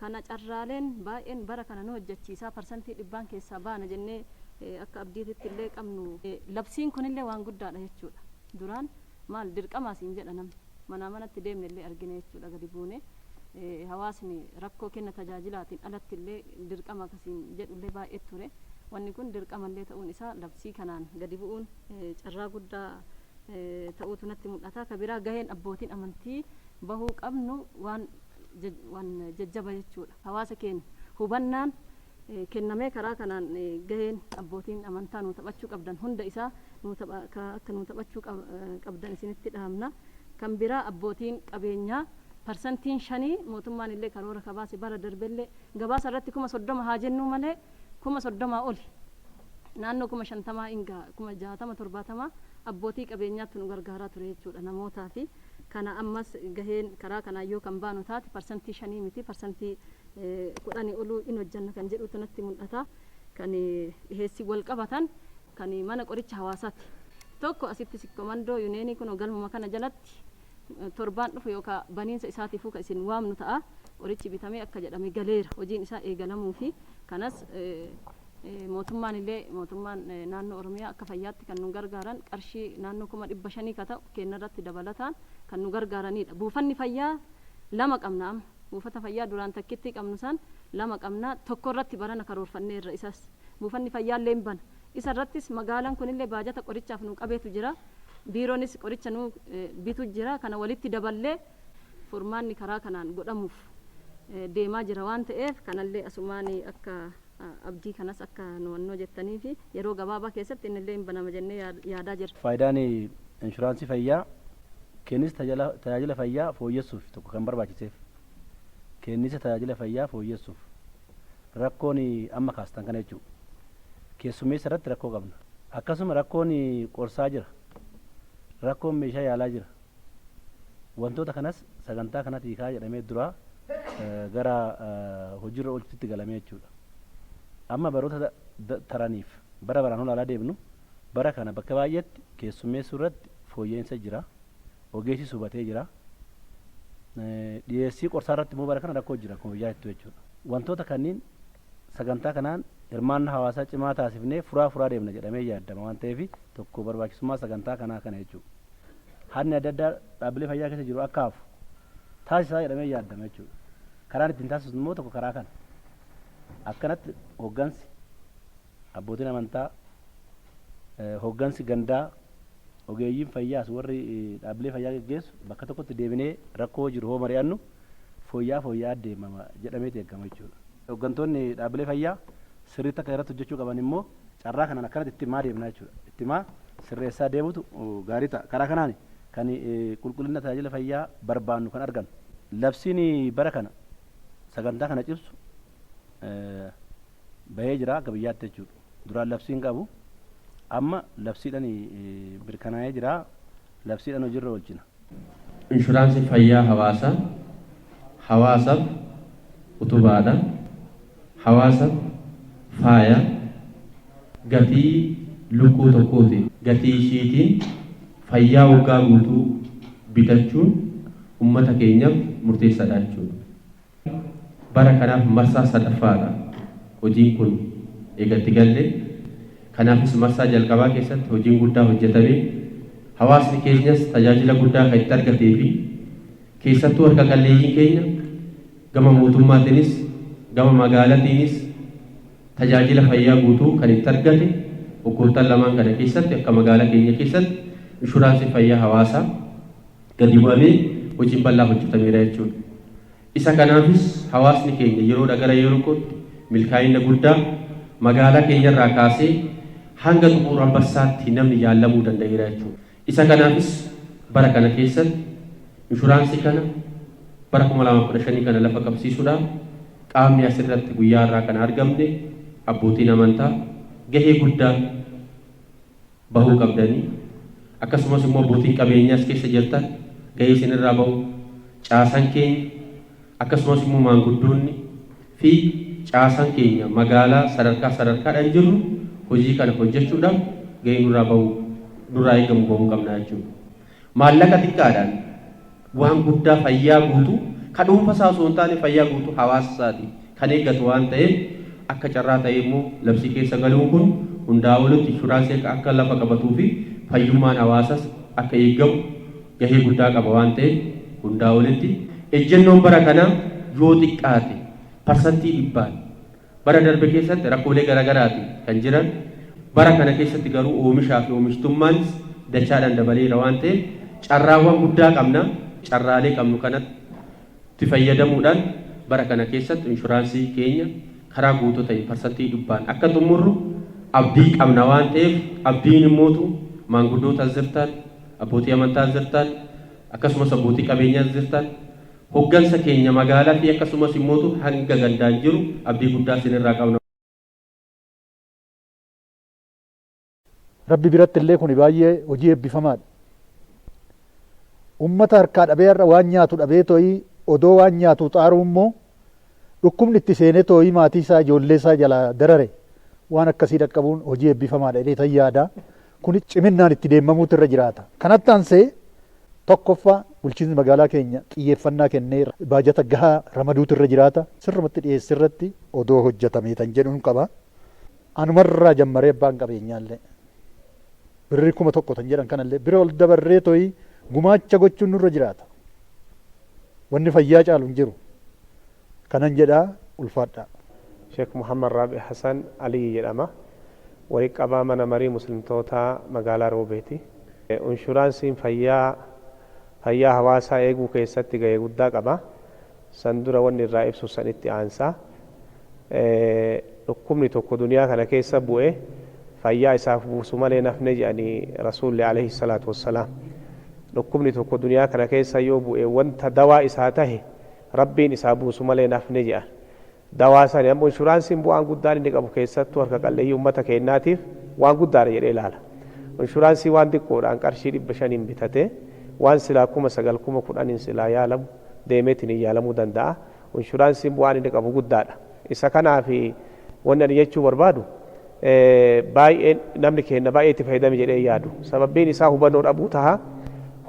Kana carraaleen baay'een bara kana nu hojjechiisa, parsantii dhibbaan keessaa baana jennee akka abdiititti illee qabnu. Labsiin kun illee waan guddaa dha jechuu dha. Duraan maal dirqamaa siin jedha namni. Manaa manatti deemne illee argine jechuu dha gadi buune. Hawaasni rakkoo kenna tajaajilaatiin alatti illee dirqama akka siin jedhu illee baay'ee ture. Wanni kun dirqama illee ta'uun isaa labsii kanaan gadi bu'uun carraa guddaa ta'uutu natti mul'ata. Ka biraa gaheen abbootiin amantii bahuu qabnu waan waan jajjaba jechuudha. Hawaasa keenya hubannaan kennamee karaa kanaan gaheen abbootiin amantaa nuu taphachuu qabdan hunda isaa akka nuu taphachuu qabdan isinitti dhaamna. Kan biraa abbootiin qabeenyaa parsantiin shanii mootummaan illee karoora ka baase bara darbe illee gabaasa irratti kuma soddoma haa jennuu malee kuma soddomaa oli naannoo kuma shantamaa in gaha kuma jaatama torbaatamaa abbootii qabeenyaattu nu gargaaraa ture jechuudha namootaa fi kana ammas gaheen karaa kanaan yoo kan baanu taate parsantii shanii miti parsantii kudhanii oluu in hojjanna kan jedhuutu natti mul'ata. Kan dhiheessiin wal qabatan kan mana qoricha hawaasaati. Tokko asitti Sikkomandoo Yuneenii kunoo galmuma kana jalatti torbaan dhufu yookaa baniinsa isaatiifuu kan isin waamnu ta'a. Qorichi bitamee akka jedhame galeera. Hojiin isaa eegalamuufi. Kanas mootummaan illee mootummaan naannoo Oromiyaa akka fayyaatti kan nu gargaaran qarshii naannoo kuma dhibba shanii ka ta'u keenyarratti dabalataan kan nu gargaaraniidha. Buufanni fayyaa lama qabna amma. Buufata fayyaa duraan takkittii qabnu san lama qabna. Tokko irratti barana karoorfanneerra isas. Buufanni fayyaa illee hin bana. Isa irrattis magaalan kun illee baajata qorichaaf nuu qabeetu jira. Biiroonis qoricha nuu bitu jira. Kana walitti daballee furmaanni karaa kanaan godhamuuf deemaa jira waan ta'eef kanallee asumaan akka Abdii kanas akka nu wannoo jettanii fi yeroo gabaabaa keessatti inni illee hin banama jennee yaadaa jirra. Faayidaan inshuraansii fayyaa keenniisa tajaajila fayyaa fooyyessuuf tokko kan barbaachiseef keenniisa tajaajila fayyaa fooyyessuuf rakkoon amma kaastan kana jechuu keessummeessa irratti rakkoo qabna. Akkasuma rakkoon qorsaa jira, rakkoon meeshaa yaalaa jira. Wantoota kanas sagantaa kanatii kaa jedhamee duraa gara hojiirra oolchutitti galamee jechuudha. Amma baroota taraniif bara baraan olaalaa deemnu bara kana bakka baay'eetti keessummeessuu irratti fooyya'insa jira. Ogeessis hubatee jira. Dhiyeessii qorsaa irratti immoo bara kana rakkoo jira akkuma biyyaatittuu jechuudha. Wantoota kanniin sagantaa kanaan hirmaannaa hawaasaa cimaa taasifnee furaa furaa deemna jedhamee yaaddama waan ta'eef tokko barbaachisummaa sagantaa kanaa kana jechuudha. Hadni adda addaa dhaabbilee fayyaa keessa jiru akka hafu taasisa jedhamee yaaddama jechuudha. Karaan ittiin taasisnu immoo tokko karaa kana. Akkanatti hooggansi abbootiin amantaa hooggansi gandaa ogeeyyiin fayyaas warri dhaabbilee fayyaa geggeessu bakka tokkotti deebinee rakkoo jiru hoo mari'annu fooyya'aa fooyya'aa deemama jedhameeti eegama jechuudha. Hoggantoonni dhaabbilee fayyaa sirriitti akka irratti hojjechuu qaban immoo carraa kanaan akkanatti itti himaa deemna jechuudha. Itti himaa sirreessaa deemutu gaarii ta'a. Karaa kanaan kan qulqullina tajaajila fayyaa barbaannu kan argannu. Labsiin bara kana sagantaa kana cimsu bahee jira akka biyyaatti jechuudha. Duraan labsii hin qabu. Amma labsiidhaan mirkanaa'ee jira. labsiidhaan hojiirra oolchina. Inshuraansii fayyaa hawaasaa hawaasaf utubaadha, hawaasaf faaya, gatii lukkuu tokkooti. Gatii ishiitiin fayyaa waggaa guutuu bitachuun ummata keenyaf murteessadha jechuudha. Bara kanaaf marsaa sadaffaadha hojiin kun eega itti galle. Kanaafis marsaa jalqabaa keessatti hojiin guddaa hojjetamee hawaasni keenyas tajaajila guddaa kan itti argatee fi keessattuu harka qalleeyyiin keenya gama mootummaatiinis gama magaalatiinis tajaajila fayyaa guutuu kan itti argate waggoottan lamaan kana keessatti akka magaalaa keenya keessatti inshuraansii fayyaa hawaasaa gadi bu'amee hojiin bal'aa hojjetameera jechuudha. Isa kanaafis hawaasni keenya yeroodha gara yerookootti milkaa'ina guddaa magaalaa keenyarraa kaasee hanga xuquur Anbassaatti namni yaallamuu danda'eera jechuudha. Isa kanaafis bara kana keessatti inshuraansii kana bara 2015 kana lafa qabsiisuudhaaf qaamni asirratti guyyaa har'aa kana argamne abbootiin amantaa gahee guddaa bahuu qabdanii akkasumas immoo abbootiin qabeenyaa as keessa jirtan gahee isin irraa bahu caasan keenya akkasumas immoo maanguddoonni fi caasan keenya magaalaa sadarkaa sadarkaadhaan jirru hojii kana hojjechuudhaaf gahee nurraa bahu nurraa eegamu bahuu qabnaa jechuudha. Maallaqa xiqqaadhaan waan guddaa fayyaa guutuu, ka dhuunfa isaa osoo hin taane fayyaa guutuu hawaasa isaati kan eeggatu waan ta'eef, akka carraa ta'ee immoo labsii keessa galuun kun hundaa olitti inshuraansii akka lafa qabatuu fi fayyummaan hawaasas akka eeggamu gahee guddaa qaba waan ta'eef hundaa olitti ejjennoon bara kanaa yoo xiqqaate parsantii dhibbaan Bara darbe keessatti rakkoolee garaagaraati kan jiran, bara kana keessatti garuu oomishaa fi oomishtummaans dachaadhaan dabaleera waan ta'eef carraawwan guddaa qabna. Carraalee qabnu kanatti fayyadamuudhaan bara kana keessatti inshuraansii keenya karaa guutuu ta'een parsantii dhibbaan akka xummurru abdii qabna waan ta'eef abdiin immootu maanguddoota as jirtan, abbootii amantaa as jirtan, akkasumas abbootii qabeenyaa as jirtan Hoggansa keenya magaala fi akkasumas immootu hanga gandaan jiru abdii guddaa isin irraa qabna. Rabbi biratti illee kuni baay'ee hojii eebbifamaa dha. Ummata harkaa dhabee har'a waan nyaatu dhabee too'ii odoo waan nyaatuu xaaruu immoo dhukkubni itti seenee too'ii maatii isaa ijoollee isaa jalaa darare waan akkasii dhaqqabuun hojii eebbifamaa dha jedheetan yaada. Kunis ciminnaan itti deemamuutu irra jiraata. Kanatti aansee tokkoffaa bulchiinsi magaalaa keenya xiyyeeffannaa kennee baajata gahaa ramaduutu irra jiraata. Sirrumatti dhiyeessii irratti odoo hojjatamee kan jedhun qaba. Anuma irraa jammaree abbaan qabeenyaa illee birrii kuma tokko kan jedhan kana illee bira ol dabarree to'ii gumaacha gochuun nurra jiraata. Wanni fayyaa caalu hin jiru. Kanan jedha ulfaadhaa. Sheek Muhammad Raabi Hasan Aliyyi jedhama. Waliit qabaa mana marii muslimtootaa magaalaa Roobeeti. Unshuraansiin fayyaa fayyaa hawaasaa eeguu keessatti gahee guddaa qaba. San dura wanni irraa ibsu san itti aansa. Dhukkubni tokko duniyaa kana keessa bu'e fayyaa isaaf buusu malee hin hafne jedhani Rasuulli aleyhi salaatu wassalaam. Dhukkubni tokko duniyaa kana keessa yoo bu'e wanta dawaa isaa tahe Rabbiin isaa buusu malee hin hafne jedhan. Dawaa sani ammoo inshuraansiin bu'aan guddaan inni qabu keessattuu harka qalleeyyii ummata keenyaatiif waan guddaadha jedhee ilaala. Inshuraansii waan diqqoodhaan qarshii 500n bitatee waan silaa 9,000, 10,000n silaa yaalamu deemeetiin hin yaalamuu danda'a. Inshuraansiin bu'aan inni qabu guddaadha. Isa kanaaf wanni ani jechuu barbaadu baay'een namni keenna baay'ee itti fayyadame jedhee hin yaadu. Sababbiin isaa hubannoo dhabuu taha.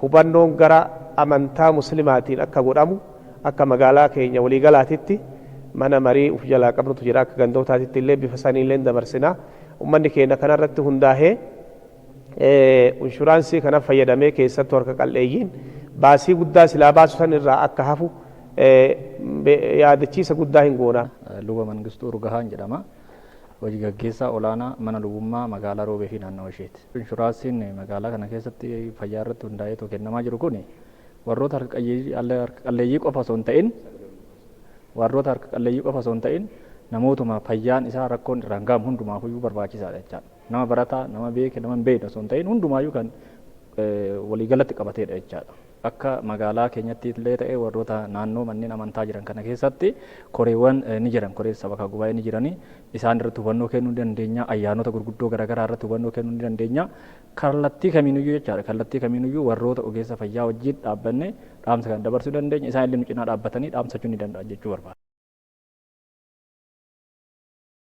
Hubannoon gara amantaa muslimaatiin akka godhamu akka magaalaa keenya walii galaatitti mana marii uf jalaa qabnutu jira akka gandootaatitti illee bifa saniin illee dabarsina. Ummanni keenna kana irratti hundaahee Inshuraansii kana fayyadamee keessattuu harka qal'eeyyiin baasii guddaa silaa baasu san irraa akka hafu yaadachiisa guddaa hin goona. Luba Mangistuu Urgahaan jedhama. Hoji gaggeessaa olaanaa mana lubummaa magaalaa Roobee fi naannawa isheeti. Inshuraansiin magaalaa kana keessatti fayyaa irratti hundaa'eetoo kennamaa jiru kun warroota harka qalleeyyii qofa osoo hin ta'in warroota harka qalleeyyii qofa osoo hin ta'in namootuma fayyaan isaa rakkoon irraan ga'amu hundumaaf iyyuu barbaachisaadha jechaadha. Nama barataa, nama beeke, nama hin beekne osoo hin ta'iin hundumaayyuu kan waliigalatti qabateedha jechaadha. Akka magaalaa keenyatti illee ta'e warroota naannoo manneen amantaa jiran kana keessatti koreewwan ni jiran. Koreen sabakaa gubaa'ee ni jirani. Isaan irratti hubannoo kennuu ni dandeenya. Ayyaanota gurguddoo garaagaraa irratti hubannoo kennuu ni dandeenya. Kallattii kamiinuyyuu jechaadha. Kallattii kamiinuyyuu warroota ogeessa fayyaa wajjin dhaabbannee dhaamsa kana dabarsuu dandeenya. Isaan illee nu cinaa dhaabbatanii dhaamsachuu ni danda'an jechuu barbaada.